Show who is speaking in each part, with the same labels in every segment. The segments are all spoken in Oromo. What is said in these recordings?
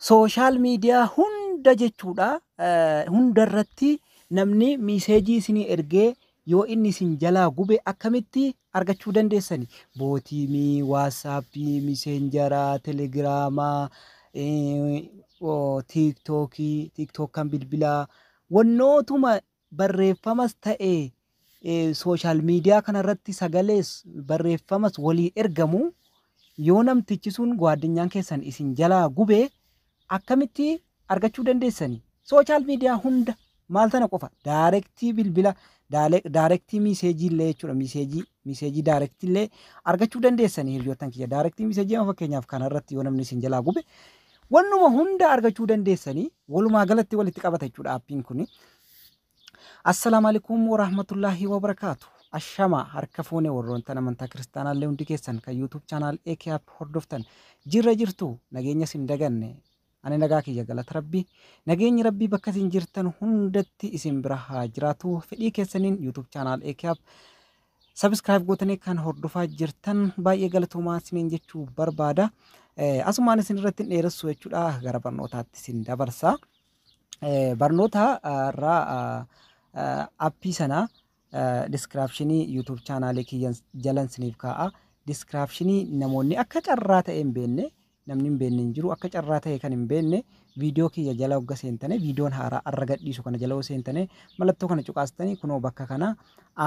Speaker 1: sooshaal miidiyaa hunda jechuudha hundarratti namni miiseejii isinii ergee yoo inni isin jalaa gube akkamitti argachuu dandeessani bootiimii waatsaappii miseenjaraa telegiraamaa tiiktookii tiiktookkan bilbilaa wannootuma barreeffamas ta'e social media kana irratti sagalees barreeffamas walii ergamu yoo namtichi sun gwaaddinyaan keessan isin jalaa gube akkamitti argachuu dandeessani social media hunda maal tana qofa daarektii bilbila daarektii miiseejii illee jechuudha miiseejii miiseejii daarektii illee argachuu dandeessani hiriyoottan kiyya daarektii miiseejii amma fakkeenyaaf kana irratti yoo namni isin jalaa gube Wannuma hunda argachuu dandeessanii walumaa galatti walitti qabata jechuudha appiin kuni. Assalaamu alaikum warahmatullaahi wabarakaatu. Ashama harka fuune warroontan amantaa kiristaanaallee hundi keessan kan YouTube channel AK app hordoftan jirra jirtu nageenya sin daganne ani nagaa kiyya galata rabbii nageenyi rabbii bakka isin jirtan hundatti isin bira haa jiraatu fedhii keessaniin YouTube channel AK app Subscribe gootanii kan hordofaa jirtan baay'ee galatoomaa isiniin jechuu barbaada. Eh, Asumaan isin irratti hin dheeressu jechuudha gara barnootaatti isin dabarsa. Eh, Barnoota ah, irraa ah, ah, appii sana diskiraapshinii YouTube chaanaalii kiyyan jalan isiniif kaa'a. Diskiraapshinii namoonni akka carraa ta'e hin beekne namni hin beenne hin jiru akka carraa ta'e kan hin beenne viidiyoo kiyya jala hogga seentane viidiyoon haaraa arra gadhiisu kana jala yoo seentane mallattoo kana cuqaastanii kunoo bakka kana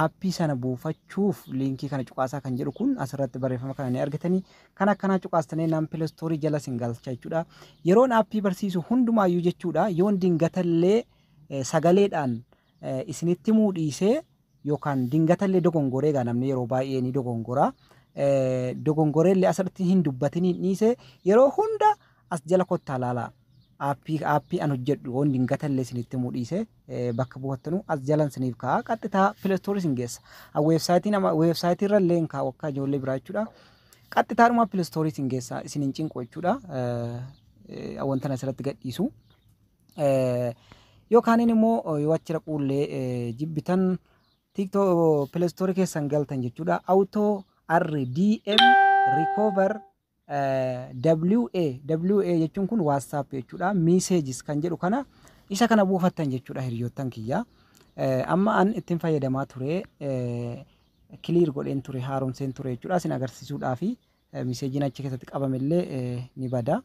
Speaker 1: aappii sana buufachuuf liinkii kana cuqaasaa kan jedhu kun asirratti barreeffama kana ni argitanii kan akkanaa cuqaastanii naan pilastoorii jala sin galcha jechuudha yeroon aappii barsiisu hundumaayyuu jechuudha yoon dingatallee sagaleedhaan isinitti muu dhiisee yookaan dingatallee dogongoree egaa namni yeroo baay'ee ni dogongora dogongoreellee asirratti hin dubbatiniin dhiise yeroo hunda as jala kottaa laalaa aappii aappii an hojjedhu yoon dingatallee isinitti himuu dhiise bakka buufattanu as jalan isiniif kaa'a qaxxitaa pilastoorii isin geessa weebsaayitii nama weebsaayitii irra illee hin kaa'u akka ijoollee biraa jechuudha qaxxitaadhuma pilastoorii isin geessa isin hin cinqu jechuudha wanta asirratti gadhiisu. Yoo kaaniin immoo yoo achi dhaquullee jibbitan TikTok Play Store keessan galtan jechuudha. Auto RDM Recover WA WA jechuun kun WhatsApp jechuudha. Messages kan jedhu kana isa kana buufattan jechuudha hiriyoottan kiyya. Amma an ittiin fayyadamaa ture kiliir godheen ture haaromseen ture jechuudha. Isin agarsiisuudhaafi miseejiin achi keessatti qabamillee ni bada.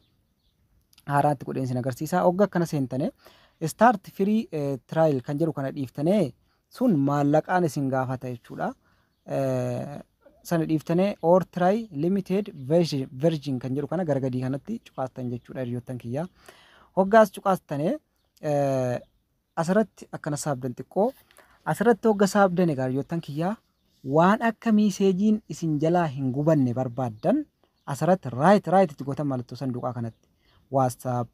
Speaker 1: haaraatti godheen sin agarsiisa. Ogga akkana seentane start free eh, trial kan jedhu kana dhiiftane sun maallaqaan isin gaafata jechuudha. Eh, sana dhiiftane or try limited version version kan jedhu kana gara gadii kanatti cuqaastan jechuudha hiriyoottan kiyya. Hoggaas cuqaastane eh, Asirratti akkana saabdan xiqqoo. Asirratti hogga saabdan egaa hiriyoottan kiyyaa waan akka miiseejiin isin jalaa hin gubanne barbaaddan asirratti raayit raayit itti gootan mallattoo sanduuqaa kanatti waastaap,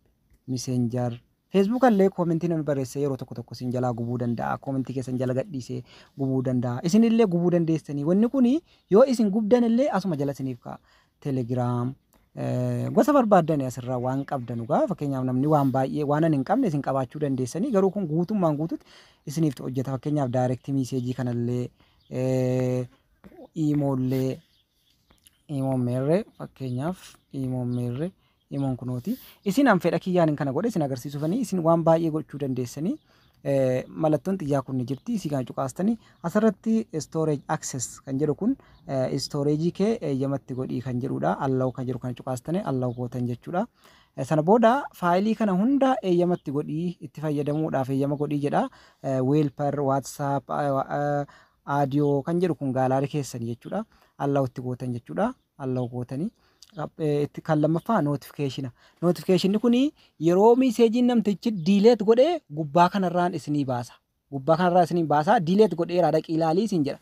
Speaker 1: miseenjar, feesbuuka illee koomentii namni barreessee yeroo tokko tokko isin jalaa gubuu danda'a koomentii keessan jala gadhiisee gubuu danda'a isin illee gubuu dandeessanii wanni kun yoo isin gubdan illee asuma jala isiniif ka'a Telegram, Gosa barbaaddani asirraa waan qabdanu gaa fakkeenyaaf namni waan baay'ee waan ani hin qabne isin qabaachuu dandeessanii garuu kun guutummaan guututti isiniif hojjeta fakkeenyaaf direct message kanallee eh, imoollee imoon meerre fakkeenyaaf imoon meerre Imoon kunooti. Isin an fedha kiyyaanin kana godhe isin agarsiisuufanii isin waan baay'ee gochuu dandeessanii eh, mallattoon xiyyaa kun ni jirti isii kana cuqaastanii asirratti storage access kan jedhu kun eh, storage kee eeyyamatti godhii kan jedhudha allow kan jedhu kana cuqaastanii allow gootan jechuudha. Eh, Sana booda faayilii kana hunda eeyyamatti godhii itti fayyadamuudhaaf eeyyama godhii jedha Eh, weelper whatsapp eh, eh, audio kan jedhu kun gaalaarii keessan jechuudha allow itti gootan jechuudha. allow gootanii Rap- eh, itti kan lammaffaa notification notification kun yeroo miiseejiin namtichi diileet godhee gubbaa kanarraan isinii baasa gubbaa kanarraa isinii baasa diileet godheeraa dhaqii ilaalii isin jedha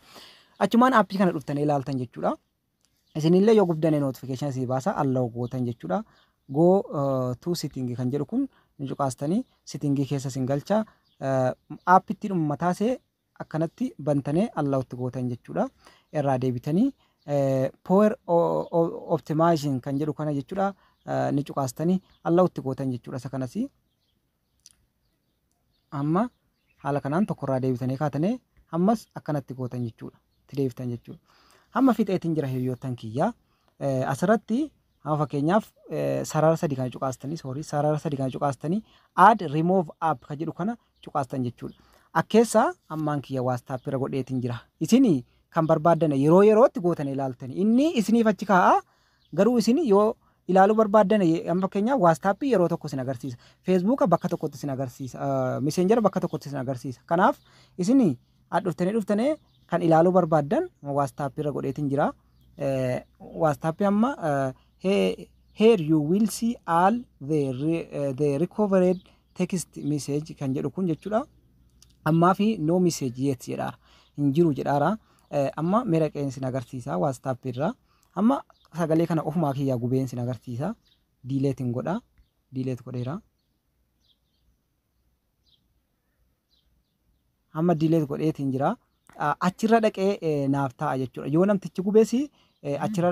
Speaker 1: achumaan appii kana dhuftanii ilaaltan jechuudha isinillee yoo gubdane notification isinii baasa allow gootan jechuudha go eh, to sitting kan jedhu kun ni cuqaastanii sittingii keessa isin galcha eh, appitti dhuma mataasee akkanatti bantane allowed gootan jechuudha irraa deebitanii power optimizing kan jedhu kana jechuudha ni cuqaastanii allowed gootan jechuudha isa kanas amma haala kanaan tokkorraa deebitanii kaatane ammas akkanatti gootan jechuudha itti deebitan jechuudha amma fixeetiin jira hiriyoottan kiyyaa asirratti Amma fakkeenyaaf sarara sadi kana cuqaastanii sorry sarara sadi kana cuqaastanii add remove app ka jedhu kana cuqaastan jechuudha. Akkeessa ammaan kiyya WhatsApp irra godheetiin jira. Isin kan barbaaddan yeroo yerootti gootan ilaaltani. Inni isiniif achi kaa'a garuu isin yoo ilaaluu barbaaddan amma fakkeenyaaf WhatsApp yeroo tokko isin agarsiisa. Facebook bakka tokkotti isin agarsiisa. Messenger bakka tokkotti isin agarsiisa. Kanaaf isin dhuftanii dhuftanii kan ilaaluu barbaaddan WhatsApp irra godheetiin jira. Whatsapp amma here you will see all the, the recovered text message kan jedhu kun jechuudha ammaa fi no message yet jedhaara hin jiru jedhaara amma mera qeen sin agarsiisa Whatsapp irraa amma sagalee kana ofumaa kiyyaa gubeen sin agarsiisa diileetiin godha diileet godheera amma diileet godheetiin jira achirra dhaqee naaf ta'a jechuudha yoo namtichi gubees achirra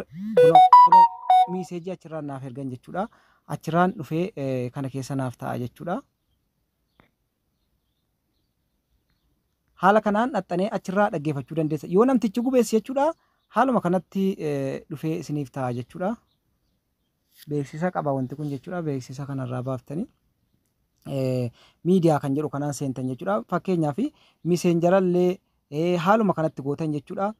Speaker 1: miiseejii achirraan naaf ergan jechuudha achirraan dhufee kana keessa naaf ta'a jechuudha. Haala kanaan dhaxxanee achirraa dhaggeeffachuu dandeessa yoo namtichi gubees jechuudha haaluma kanatti dhufee isiniif ta'a jechuudha. beeksisa qaba wanti kun jechuudha. Beeksisa kanarraa baaftanii miidiyaa kan jedhu kanaan seentan jechuudha. Fakkeenyaaf miseenjarallee haaluma kanatti gootan jechuudha.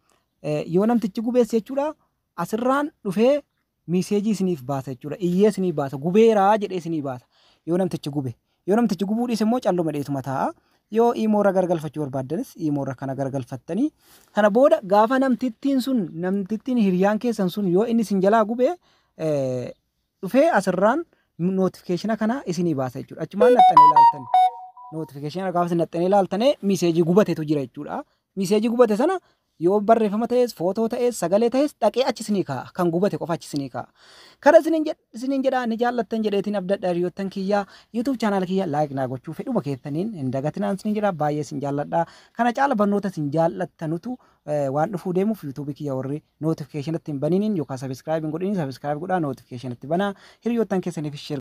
Speaker 1: Yoo namtichi gubeesse jechuudha asirraan dhufee miseejii isiniif baasa jechuudha. Iyyee isinii baasa. Gubeeraa jedhee isinii baasa. Yoo namtichi gube. Yoo namtichi gubuu dhiise immoo calluma dheetuma taa'a. Yoo iimoo irra garagalfachuu barbaaddanis iimoo irra kana garagalfattanii kana booda gaafa namtittiin sun namtittiin hiriyaan keessan sun yoo inni isin jalaa gube dhufee asirraan notifikeshina kana isinii baasa jechuudha. Achumaan naxxanii ilaaltan. Notifikeshina gaafa isin naxxanii ilaaltane miseejii gubatetu jira jechuudha. Miseejii gubate sana Yoo barreeffama ta'es, footoo ta'es, sagalee ta'es dhaqee achi isinii kaa'a. Kan gubate qofa achi isinii kaa'a. Kana isiniin jedh- isiniin jedha ni jaallattan jedheetiin abdadha hiriyoottan kiyya. YouTube channel kiyya like naa gochuu fedhuma keessaniin hin dagatinaan isiniin jedha. Baay'ee isin jaalladha. Kana caala barnoota isin jaallattanutu eh, waan dhufuu deemuuf YouTube kiyya warri notification itti hin baniniin yookaan subscribe hin godhiniin subscribe godhaa notification itti banaa. Hiriyoottan keessaniif share